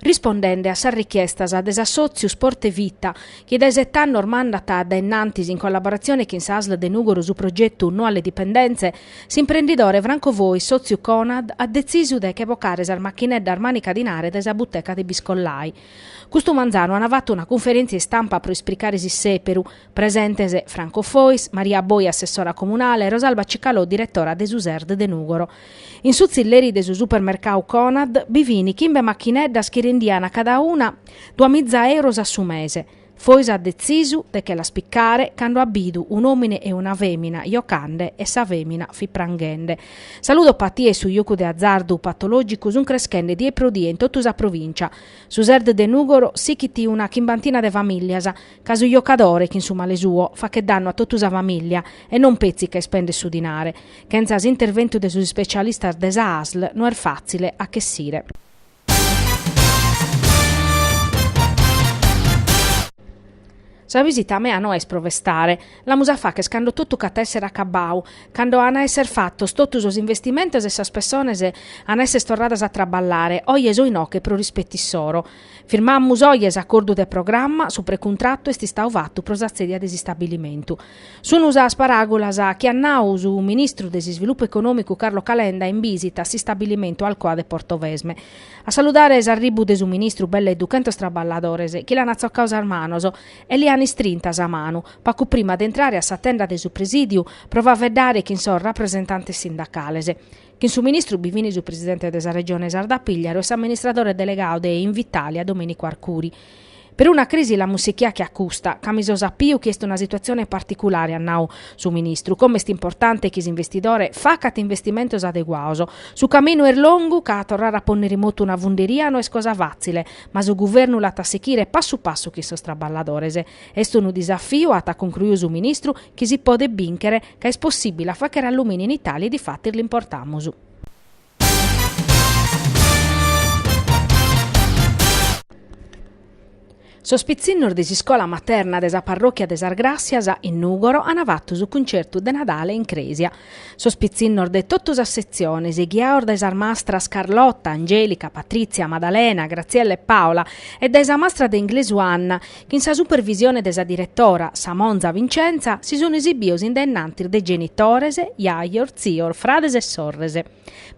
Rispondende a sas richiestas de s'assòtziu Sport e Vita, chi dae sete annos mandat a dae innantis in collaboratzione chin sa Asl de Nùgoro su progetu No alle dipendenze, s'imprendidore Franco Fois, sòtziu Conad, at detzisu de che vocare sas machineddas mànica dinare dae sa buteca de Biscollai. Custu manzanu ant fatu una cunferèntzia istampa pro ispricare s'issèperu, Presentes, Franco Fois, Maria Boi assessora comunale, Rosalba Cicalò diretora de su Serd de Nùgoro. In su tzilleri de su supermercau Conad bi fin chimbe machineddas chi rendian cada una duamiza euros a su mese. Fois at detzisu de che las picare cando at bidu un'òmine e una fèmina jocande e sa fèmina fit pranghende. Sa ludopatia e su jocu de azardu patològicu sunt creschende die pro die in totu sa provìncia. Su Serd de Nùgoro sighit una chimbantina de famìlias, Ca su jocadore, chin su male suo, fachet dannu a totu sa famìllia e non petzi ca ispendet su dinare. Chentza s'interventu de sos ispecialistas de sa asl no est fàtzile a ch'essire. Sa visita mea no est pro festare. L'amus a facher cando totu ch'at a èssere acabbau, cando an a èssere fatos totu sos investimentos e sas pessones an a èssere torradas a traballare, oje so inoche pro rispetu issoro. Firmamus oje s'acordu de programma, su precontratu est istau fatu pro sa tzèdia de s'istabilimentu. Sunu sas paràgulas chi at nau su ministru de s'Isvilupu Econòmicu Carlo Calenda in bìsita a s'istabilimentu Alcoa de Portovesme. A saludare s'arribu de su ministru belle duchentos traballadores chi l'an atzocau sas manos e li an istrinta sa manu pacu prima de intrare a sa tenda de su presìdiu pro faeddare chin sos rapresentantes sindacales. Chin su ministru bi fin su presidente de sa Regione Sarda Pigliaru e s'amministradore delegau de Invitalia Domenico Arcuri. Peruna crisi l'amus sichia che a custa, ca mi so sapiu chi est una situatzione particulare, at nau su ministru, como est importante chi s'investidore facat investimentos adeguaos. Su caminu est longu, ca torrare a ponner in motu una funderia no est cosa fàtzile, ma su guvernu l'at a sichire passu passu chin sos traballadores. Est unu disafiu, at concruiu su ministru, chi si podet bìnchere, ca est possìbile a fàchere allumini in Itàlia e difatis l'importamus. Sos pitzinnos de s'iscola materna de sa parròchia de Sas Gràssias, in Nùgoro, ant fatu su cuncertu de Nadale in crèsia. Sos pitzinnos de totu sas setziones, ghiaos dae sas mastras Carlotta, Angelica, Patrizia, Madalena, Graziella e Paola e dae sa mastra de inglesu Anna, Chin sa supervisione de sa diretora, sa monza Vincenza, si sun esibios in dennantis de genitores, jajos, tzios, frades e sorres.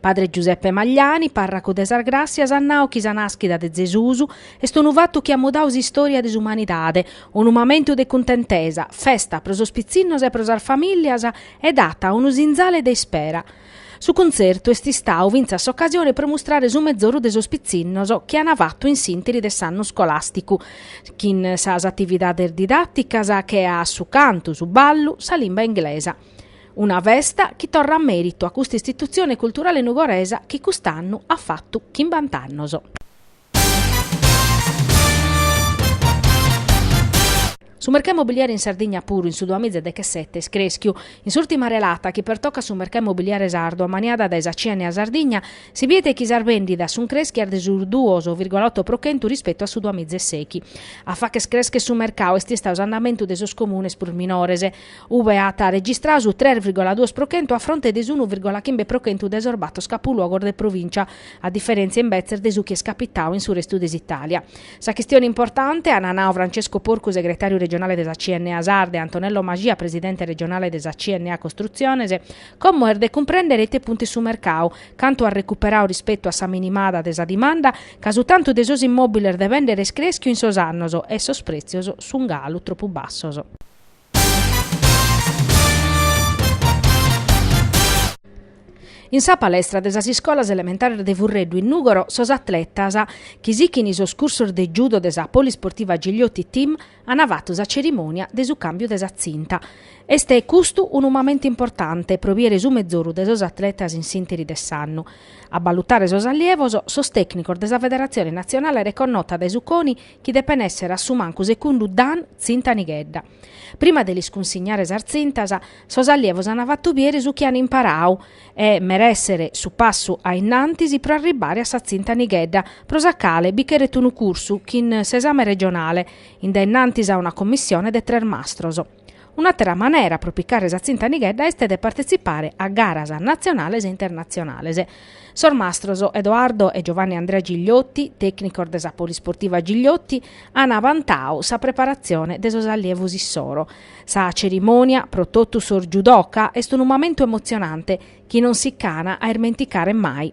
Padre Giuseppe Magliani, parracu de sas Gràssias at nau chi sa nàschida de Zesus est unu fatu chi at mudau s'istòria de s'umanidade, unu mamentu de cuntentesa, festa pro sos pitzinnos e pro sas famìllias e dat unu sinzale de ispera. Su contzertu est istadu fintzas s'ocasione pro mustrare su mezoru de sos pitzinnos chi an fatu in s'interi de s'annu iscolàsticu, chin sas atividades didàticas che a su cantu, su ballu, sa limba inglesa. Una festa chi torrat mèritu a custa istitutzione culturale nugoresa chi cust'annu at fatu chimbant'annos. Su mercau immobiliare in Sardigna puru in su duamiza e dechesete est crèschiu. In s'ùrtima relata chi pertocat su mercau immobiliare sardu ammaniada dae sa CNA Sardigna, si bidet chi sas bèndidas sunt crèschias de su duos virgola oto pro chentu rispetu a su duamiza e seghi. A fàchere crèschere su mercau est istadu s'andamentu de sos comunes prus minores. Ube at arregistradu su tres virgola duos pro chentu a fronte de s'unu virgola chimbe pro chentu de sos bator capuluogos de provìncia, a diferèntzia imbetzes de su chi est capitadu in su restu de s'Itàlia. Sa chistione importante, ant nadu Francesco Porcu segretàriu regionale de sa CNA Sarda e Antonello Mascia presidente regionale de sa CNA Costrutziones, como est de cumprèndere ite puntu est su mercadu, cantu at recuperadu rispetu a sa minimada de sa dimanda, ca su tantu de sos immòbiles de bèndere est crèschiu in sos annos e sos prètzios sunt galu tropu bassos. In sa palestra de sas iscolas elementares de Furreddu in Nùgoro sos atletas chi sighint sos cursos de judo de sa Polisportiva Gigliotti Team ant fatu sa cerimònia de su càmbiu de sa tzinta. Est custu unu mamentu importante pro biere su mezoru de sos atletas in s'ìnteri de s'annu. A balutare sos allievos sos tècnicos de sa federatzione natzionale reconnota dae su CONI chi depen èssere a su mancu secundu Dan Tzinta Nighedda. Prima de lis cunsignare sas tzintas, sos allievos ant fatu biere su chi ant imparadu e merèssere su passu a innantis pro arribbare a sa Tzinta Nighedda, pro sa cale bi cheret unu cursu chin s'esame regionale, in dae innantis a una commissione de tres mastros. Un'àtera manera pro picare sa tzinta nighedda est de partetzipare a garas natzionales e internatzionales. Sos mastros Edoardo e Giovanni Andrea Gigliotti, tècnicos de sa Polisportiva Gigliotti, ant abantadu sa preparatzione de sos allievos issoro. Sa cerimònia pro totu sos judoka est unu mamentu emotzionante chi non si ch'ana a irmenticare mai.